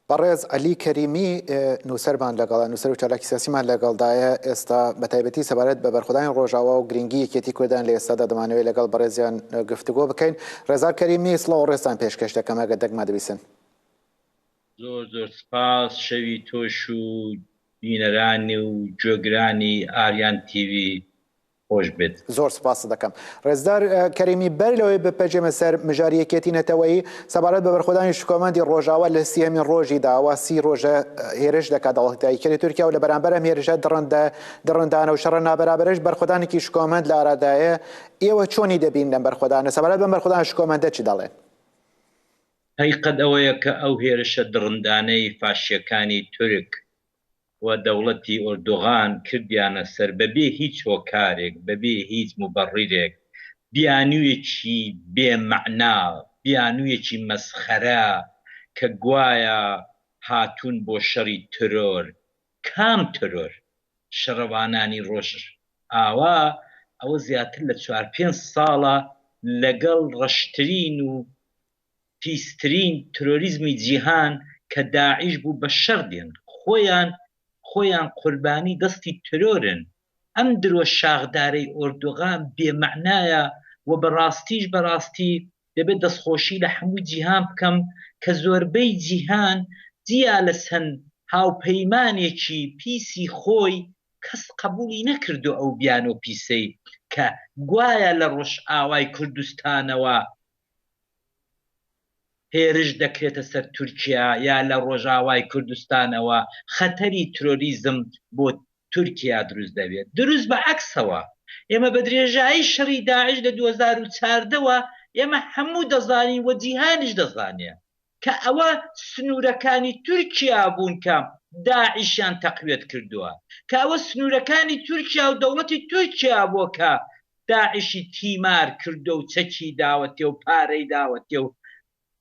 بەڕێز عەلی کەریمی نووسەرمان لەگەڵە، نووسەر و چالاکی سیاسیمان لەگەڵدایە ئێستا، بەتایبەتی سەبارەت بە بەرخۆدانی ڕۆژاوا و گرنگی یەکێتی کوردان لە ئێستادا دەمانەوێت لەگەڵ بەڕێزیان گفتوگۆ بکەین. ڕێزار کەریمی، سڵاو و ڕێزتان پێشکەش دەکەم، ئەگەر دەگمەن دەبیسن. زۆر زۆر سپاس، شەوی تۆش و بینەرانی و گوێگرانی ئاریان تیڤی خۆش بێت. زۆر سوپاست دەکەم ڕێزدار کەریمی. بەر لەوەی بپەجێمە سەر مژاری یەکێتی نەتەوەیی، سەبارەت بە بەرخۆدانی شکۆمەندی ڕۆژاوا لە سیهەمین ڕۆژی دا، ئەوا سی ڕۆژە هێرش دەکات دەوڵەتیدایکەری تورکیا و لە بەرامبەر ئەم هێرشە دڕندە دڕندانە و شەڕە نابەرابەرەش بەرخۆدانێکی شکۆمەند لە ئارادایە، ئێوە چۆنی دەبینن ئەم بەرخۆدانە؟ سەبارەت بەم بەرخۆدانە شکۆمەندە چ دەڵێن؟ هەقیقەت ئەوەیە کە ئەو هێرشە دڕندانەی فاشییەکانی تورک و دەوڵەتی ئۆردوغان کردیانە سەر بەبێ هیچ هۆکارێک بەبێ هیچ موبەڕیرێک بیانویەکی بێ مەعنا بیانویەکی مەسخەرە کە گوایە هاتوون بۆ شەڕی ترۆر کام ترۆر شەڕەوانانی ڕۆژژ ئاوا ئەوە زیاتر لە چوار پێنج ساڵە لەگەڵ ڕەشترین و پیسترین ترۆریزمی جیهان کە داعیش بوو بە شەر دێن خۆیان خۆیان قوربانی دەستی ترۆرن ئەم درۆ شاخدارەی ئۆردوغان بێ مەعنایە وە بە ڕاستیش بە ڕاستی دەبێ دەستخۆشی لە حەموو جیهان بکەم کە زۆربەی جیهان جیا لە چەند هاوپەیمانێکی پیسی خۆی کەس قەبووڵی نەکردوە ئەو بیانۆ پیسەی کە گوایە لە ڕۆژئاوای کوردستانەوە هێرش دەکرێتە سەر تورکیا یا لە ڕۆژاوای کوردستانەوە خەتەری ترۆریزم بۆ تورکیا دروست دەبێت دروست بە عەکسەوە ئێمە بە درێژایی شەڕی داعش لە دوو هەزار و چواردە وە ئێمە هەموو دەزانین وە جیهانیش دەزانێ کە ئەوە سنوورەکانی تورکیا بوون کە داعشیان تەقویەت کردووە، کە ئەوە سنوورەکانی تورکیا و دەوڵەتی تورکیا بووە کە داعشی تیمار کردووە و چەکی داوەتێ و پارەی داوەتێ و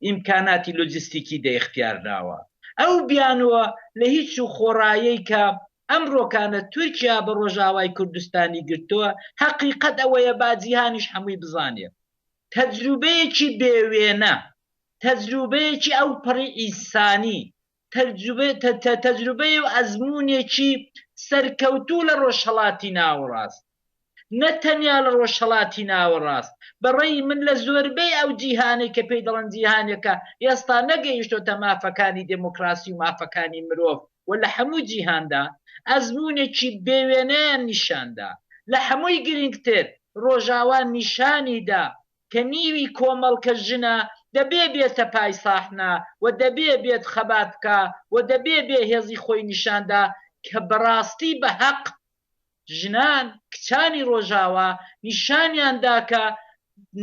ئیمکاناتی لۆجستیکی دە ئیختیار داوە. ئەو بیانووە لە هیچ و خۆڕایەی کە ئەمڕۆکانە تورکیا بە ڕۆژاوای کوردستانی گرتووە، هەقیقەت ئەوەیە با جیهانیش هەمووی بزانێ تەجروبەیەکی بێ وێنە، تەجروبەیەکی ئەوپەڕی ئینسانی، تەجروبەی و ئەزموونێکی سەرکەوتوو لە ڕۆژهەڵاتی ناوەڕاست، نە تەنیا لە ڕۆژهەڵاتی ناوەڕاست، بە ڕەئی من لە زۆربەی ئەو جیهانەی کە پێی دەڵێن جیهانێکە ئێستا نەگەیشتۆتە مافەکانی دێمۆکڕاسی و مافەکانی مرۆڤ و لە هەموو جیهاندا ئەزموونێکی بێ وێنەیان نیشان دا. لە هەمووی گرینگتر ڕۆژاوا نیشانی دا کە نیوی کۆمەڵکە ژنە دەبێ بێتە پای ساحنە و دەبێ بێت خەبات بکا و دەبێ بێ هێزی خۆی نیشان دا کە بەڕاستی بە هەق ژنان کچانی ڕۆژاوا نیشانیان دا کە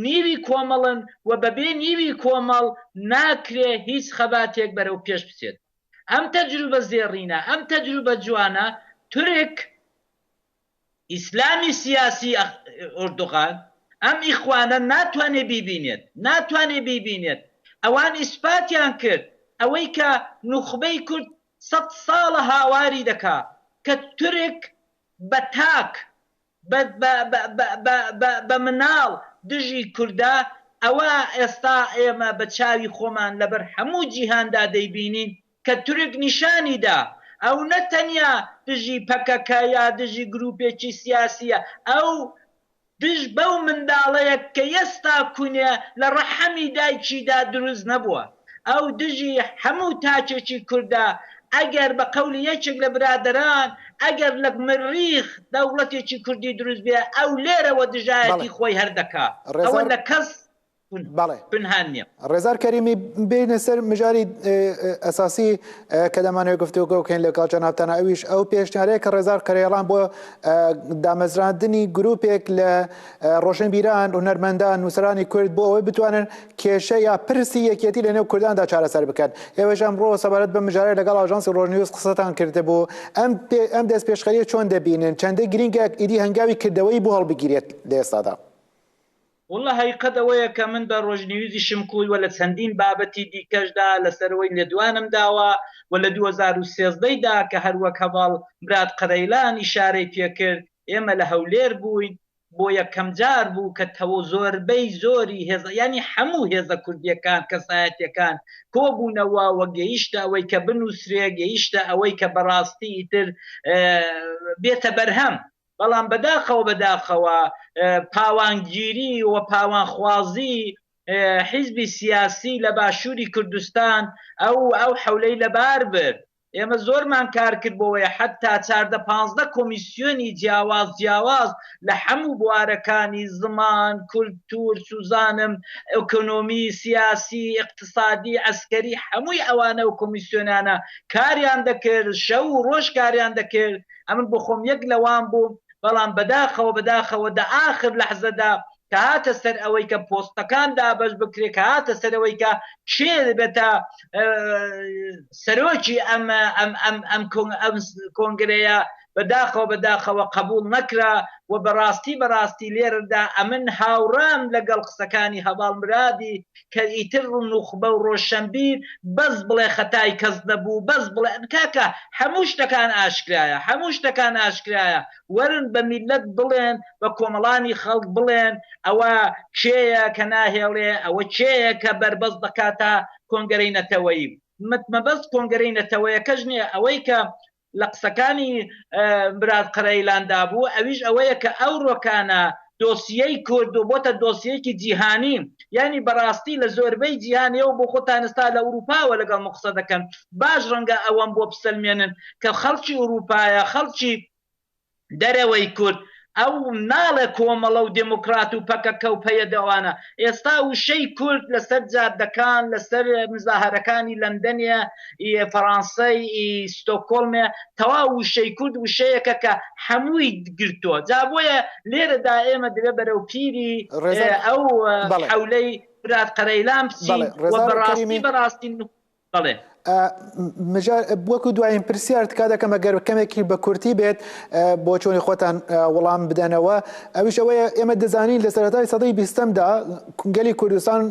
نیوی کۆمەڵن و بە بێ نیوی کۆمەڵ ناکرێ هیچ خەباتێک بەرەو پێش بچێت ئەم تەجروبە زێڕینە ئەم تەجروبە جوانە تورک ئیسلامی سیاسی ئۆردوغان ئەم ئیخوانە ناتوانێت بیبینێت ناتوانێت بیبینێت ئەوان ئیسپاتیان کرد ئەوەی کە نوخبەی کورد سەد ساڵە هاواری دەکا کە تورک بە تاک بە بە بە بە بە بە بە مناڵ دژی کوردە ئەوە ئێستا ئێمە بە چاوی خۆمان لەبەر هەموو جیهاندا دەیبینین کە تورک نیشانی دا ئەو نە تەنیا دژی پەکەکە یا دژی گروپێکی سیاسییە، ئەو دژ بەو منداڵەیە کە یەستا کونێ لە ڕەحەمی دایکی دا دروست نەبووە. ئەو دژی هەموو تاکێکی کوردە، ئەگەر بە قەولی یەکێک لە برادەران، ئەگەر لە مریخ دەوڵەتێکی کوردی دروست بێ، ئەو لێرەوە دژایەتی خۆی هەر دەکا. ئەوە لە کەس بەڵێ پنهان نیە. ڕێزار کەریمی، بێینە سەر مژاری ئەساسی کە دەمانەوێت گفتوگۆ بکەین لەگەڵ جەنابتان، ئەویش ئەو پێشنیارەیە کە ڕێزار قەرەیڵان بۆ دامەزراندنی گروپێک لە ڕۆشنبیران، هونەرمەندان، نووسەرانی کورد بۆ ئەوەی بتوانن کێشە یا پرسی یەکێتی لەنێو کورداندا چارەسەر بکەن. ئێوەش ئەمڕۆ سەبارەت بەم مژارە لەگەڵ ئاژانسی ڕۆژنیوز قسەتان کردبوو. ئەم ئەم دەستپێشخەرییە چۆن دەبینن؟ چەندە گرینگە ئیدی هەنگاوی کردەوەیی بۆ هەڵبگیرێت لە ئێستادا؟ واللە هەیقەت ئەوەیە کە من بە ڕۆژنیوزی شمکوی و لە چەندین بابەتی دیکەش دا لە سەروەی لێدوانم داوە و لە دوو هەزار و سێزدە ی دا کە هەر وەک هەڤاڵ مراد قەرەیلان ئیشارەی پێ کرد ئێمە لە هەولێر بووین بۆ یەکەم جار بوو کە تەوە زۆربەی زۆری هێزە یانی هەموو هێزە کوردیەکان کەسایەتیەکان کۆ بوونەوە و گەیشتە ئەوەی کە بنووسرێ گەیشتە ئەوەی کە بەڕاستی ئیتر بێتە بەرهەم بەڵام بەداخەوە بەداخەوە پاوانگیری و پاوانخوازی حیزبی سیاسی لە باشوری کوردستان ئەو ئەو حەولەی لەبار برد. ئێمە زۆرمان کار کرد بۆوەی حەتا چاردە پانزدە کۆمیسیۆنی جیاواز جیاواز لە حەموو بوارەکانی زمان، کولتوور، سوزانم، ئۆکۆنۆمی، سیاسی، ئیقتسادی، عەسکەری حەمووی ئەوانە و کۆمیسیۆنانە کاریان دەکرد شەو و ڕۆژ کاریان دەکرد ئەمن بۆ خۆم یەک لەوان بووم بەڵام بەداخەوە بەداخەوە دە ئاخر لەحزەدا کە هاتە سەر ئەوەی کە پۆستەکان دابەش بکرێت کە هاتە سەرەوەی کە کێ بێتە سەرۆکی ئەم ئەم ئەم ئەم کۆنگرەیە بەداخەوە بەداخەوە قبول نەکرا و بەڕاستی بەڕاستی لێرەدا ئەمن هاوڕام لەگەڵ قسەکانی هەواڵ مرادی کە ئیتر ڕو نوخبە و ڕۆشەنبیر بەس بڵێ خەتای کەس نەبوو بەس بڵێ کاکە هەموو شتەکان ئاشکرایە هەموو شتەکان ئاشکرایە وەرن بە میللەت بڵێن بە کۆمەڵانی خەڵک بڵێن ئەوە کێیە کە ناهێڵێ ئەوە کێیە کە بەربەست دەکاتە کۆنگەرەی نەتەوەیی مەبەست کۆنگەرەی نەتەوەیەکەش نیە ئەوەی کە لە قسەکانی براد قەرەیلان دا بوو ئەویش ئەوەیە کە ئەو ڕۆکانە دۆسیەی کورد و بۆتە دۆسیەیەکی جیهانی یانی بەڕاستی لە زۆربەی جیهان ئێوە بۆ خۆتان ئێستا لە ئورووپاوە لەگەڵ من قسە دەکەن باش ڕەنگە ئەوەم بۆ بسەلمێنن کە خەڵکی ئورووپایە خەڵکی دەرەوەی کورد ئەو ناڵێ کۆمەڵە و دێمۆکڕات و پەکەکە و پەیەدە و ئەوانە ئێستا وشەی کورد لە سەر جادەکان لە سەر مزاهەرەکانی لەندەنێ ی فەڕانسەی ی ستۆکۆڵمێ تەواو وشەی کورد وشەیەکە کە حەمووی گرتووە جا بۆیە لێرە دا ئێمە دەبێ بەرەو پیری ئەو حەولەی برات قەرەیلان بچین و بە ڕاستی بە ڕاستی بەڵێ. مژار وەکو دوایین پرسیار تکا دەکەم ئەگەر کەمێکی بە کورتی بێت بۆ چۆنی خۆتان وەڵام بدەنەوە ئەویش ئەوەیە ئێمە دەزانین لە سەرەتای سەدەی بیستەمدا گەلی کوردستان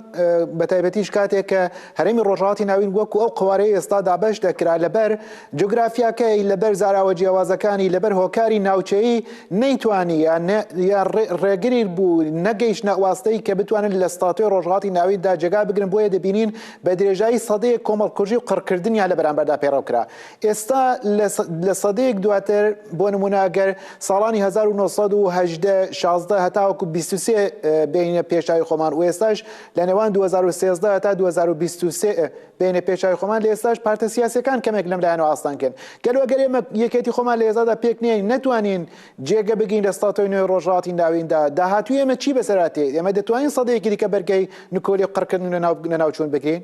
بە تایبەتیش کاتێک کە هەرێمی ڕۆژهاتی ناوین وەکو ئەو قوارەی ئێستا دابش دەکرا لەبەر جوگرافیاکەی لەبەر زاراوە جیاوازەکانی لەبەر هۆکاری ناوچەیی نەیتوانی یا ڕێگری بوو نەگەیشتە واستەی کە بتوانن لە ستاتۆی ڕۆژهاتی ناویدا جێگا بگرن بۆیە دەبینین بە درێژایی سەدەیەک کۆمەڵکوژی و قڕکردنیان لە بەرامبەردا پەیڕەو کرا. ئێستا لە سەدەیەک دواتر، بۆ نموونە گەر ساڵانی هەزار و نۆ سەد و هەژدە، شازدە هەتاوەکو بیست و سێ بێینە پێش چاوی خۆمان و ئێستاش لە نێوان دوو هەزار و سێزدە هەتا دوو هەزار و بیست و سێ بێینە پێش چاوی خۆمان، لە ئێستاش پارتە سیاسییەکان کەمێک لەم لایەنەوە ئاستەنگن. گەلۆ گەر ئێمە یەکێتی خۆمان لە ئێستادا پێک نەیەین، نەتوانین جێگە بگرین لە ستاتۆی نوێی ڕۆژهەڵاتی ناویندا، داهاتووی ئێمە چی بەسەر هاتێ؟ ئێمە دەتوانین سەدەیەکی دیکە بەرگەی نکۆلی و قڕکردن و لەناو لەناوچوون بگرین؟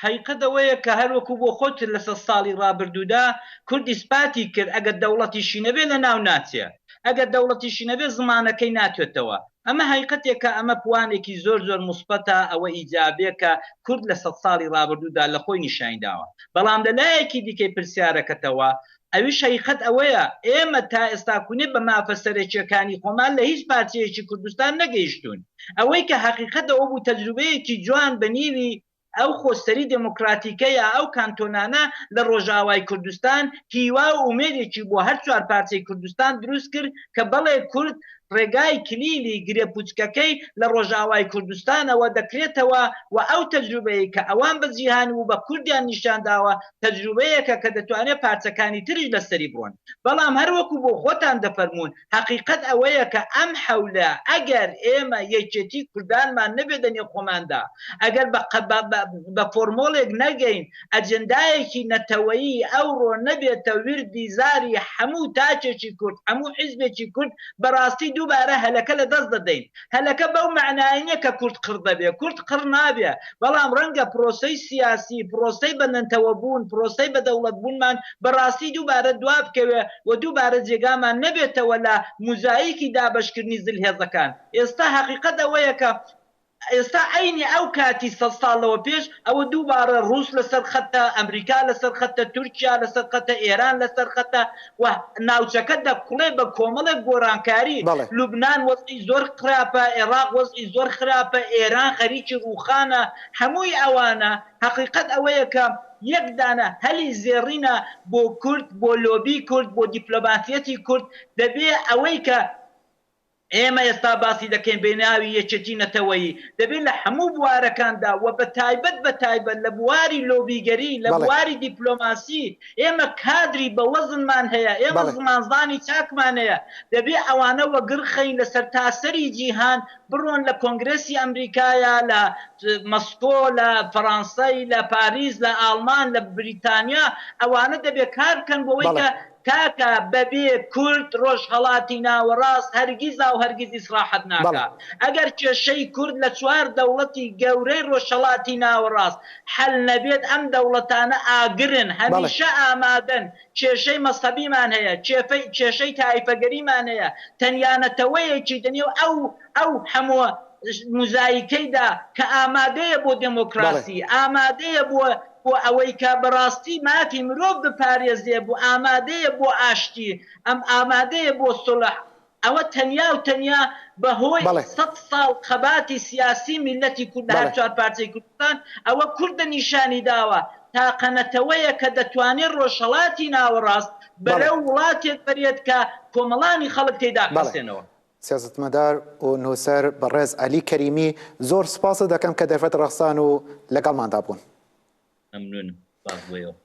حەقیقەت ئەوەیە کە هەر وەکوو بۆ خۆت لە سەد ساڵی ڕابردوودا کورد ئیسپاتی کرد ئەگەر دەوڵەتیشی نەبێ لەناو ناچێ، ئەگەر دەوڵەتیشی نەبێ زمانەکەی ناتوێتەوە. ئەمە حەقیقەتێکە، ئەمە پوانێکی زۆر زۆر موسبەتە، ئەوە ئیجابێکە کورد لە سەد ساڵی ڕابردوودا لە خۆی نیشانی داوە. بەڵام لە لایەکی دیکەی پرسیارەکەتەوە، ئەویش هەیقەت ئەوەیە ئێمە تا ئێستاکونێ بە مافە سەرەکیەکانی خۆمان لە هیچ پارچەیەکی کوردستان نەگەیشتوون. ئەوەی کە هەقیقەت ئەوە بوو تەجروبەیەکی جوان بە نیوی ئەو خۆسەری دێمۆکڕاتیکە یا ئەو کانتۆنانە لە ڕۆژئاوای کوردستان هیوا و ئومێدێکی بۆ هەر چوار پارچەی کوردستان دروست کرد کە بەڵێ کورد ڕێگای کلیلی گرێ پوچکەکەی لە ڕۆژئاوای کوردستانەوە دەکرێتەوە و ئەو تەجروبەیەی کە ئەوان بە جیهان و بە کوردیان نیشان داوە تەجروبەیەکە کە دەتوانێت پارچەکانی تریش لەسەری بڕۆن بەڵام هەر وەکو بۆ خۆتان دەفەرموون هەقیقەت ئەوەیە کە ئەم حەولە ئەگەر ئێمە یەکێتی کوردانمان نەبێت لە نێو خۆماندا ئەگەر بە بە فۆرمۆڵێک نەگەین ئەجندایەکی نەتەوەیی ئەوڕۆ نەبێتە وردی زاری حەموو تاکێکی کورد حەموو حیزبێکی کورد بەڕاستی دووبارە هەلەکە لە دەست دەدەین هەلەکە بەو مەعنایە نیە کە کورد قڕ دەبێ، کورد قڕ نابێ، بەڵام ڕەنگە پرۆسەی سیاسی، پرۆسەی بە نەنتەوە بوون، پرۆسەی بە دەوڵەت بوونمان بە ڕاستی دووبارە دوا بکەوێ و دووبارە جێگامان نەبێتەوە لە موزایکی دابەشکردنی زلهێزەکان. ئێستا هەقیقەت ئەوەیە کە ئێستا عەینی ئەو کاتی سەد ساڵ لەوە پێش، ئەوە دووبارە ڕووس لە سەر خەتە، ئەمریکا لە سەر خەتە، تورکیا لە سەر خەتە، ئێران لە سەر خەتە، و ناوچەکە دەکوڵێ بە کۆمەڵێک گۆرانکاری، بەڵێ. لوبنان وەزعی زۆر خراپە، ئێراق وەزعی زۆر خراپە، ئێران خەریکی ڕووخانە، هەمووی ئەوانە، هەقیقەت ئەوەیە کە یەک دانە هەلی زێڕینە بۆ کورد، بۆ لۆبی کورد، بۆ دیپلۆماسیەتی کورد، دەبێ ئەوەی کە. ئێمە ئێستا باسی دەکەین بەناوی یەکێتی نەتەوەیی، دەبێت لە هەموو بوارەکاندا و بە تایبەت بە تایبەت لە بواری لۆبیگەری، لە بواری دیپلۆماسی، ئێمە کادری بەوەزنمان هەیە، ئێمە زمانزانی چاکمان هەیە، دەبێت ئەوانە وەگڕخەین لە سەرتاسەری جیهان، بڕۆن لە کۆنگرێسی ئەمریکایا، لە مەسکۆ، لە فەرانسەی، لە پاریس، لە ئاڵمان، لە بریتانیا، ئەوانە دەبێت کاربکەن بۆوەی کە کاکە بەبێ کورد ڕۆژهەڵاتی ناوەڕاست هەرگیزاو هەرگیز ئیسڕاحەت ناکا. ئەگەر کێشەی کورد لە چوار دەوڵەتی گەورەی ڕۆژهەڵاتی ناوەڕاست حەل نەبێت ئەم دەوڵەتانە ئاگرن هەمیشە ئامادەن. کێشەی مەزهەبیمان هەیە، کێشەی تایفەگەریمان هەیە، تەنیا نەتەوەیەکی دە نێو ئەو ئەو هەموو موزایکەیدا کە ئامادەیە بۆ دێمۆکڕاسی، ئامادەیە بۆ. بۆ ئەوەی کە بەڕاستی مافی مرۆڤ بپارێزێ بۆ ئامادەیە بۆ ئاشتی ئەم ئامادەیە بۆ سوڵح ئەوە تەنیا و تەنیا بە هۆی بەڵێ. سەد ساڵ خەباتی سیاسی میللەتی کورد لە هەر بەڵێ. چوار پارچەی کوردستان ئەوە کوردە نیشانی داوە تاقە نەتەوەیە کە دەتوانێ ڕۆژهەڵاتی ناوەڕاست بەڵێ. بەرەو وڵاتێک بەرێت کە کۆمەڵانی خەڵک تێیدا بەڵێ. بحەسێنەوە. سیاسەتمەدار و نووسەر بەڕێز عەلی کەریمی، زۆر سوپاست دەکەم کە دەرفەت ڕەخسان و لەگەڵماندا بوون. مەمنوونم، سوپاس بۆ ئێوە.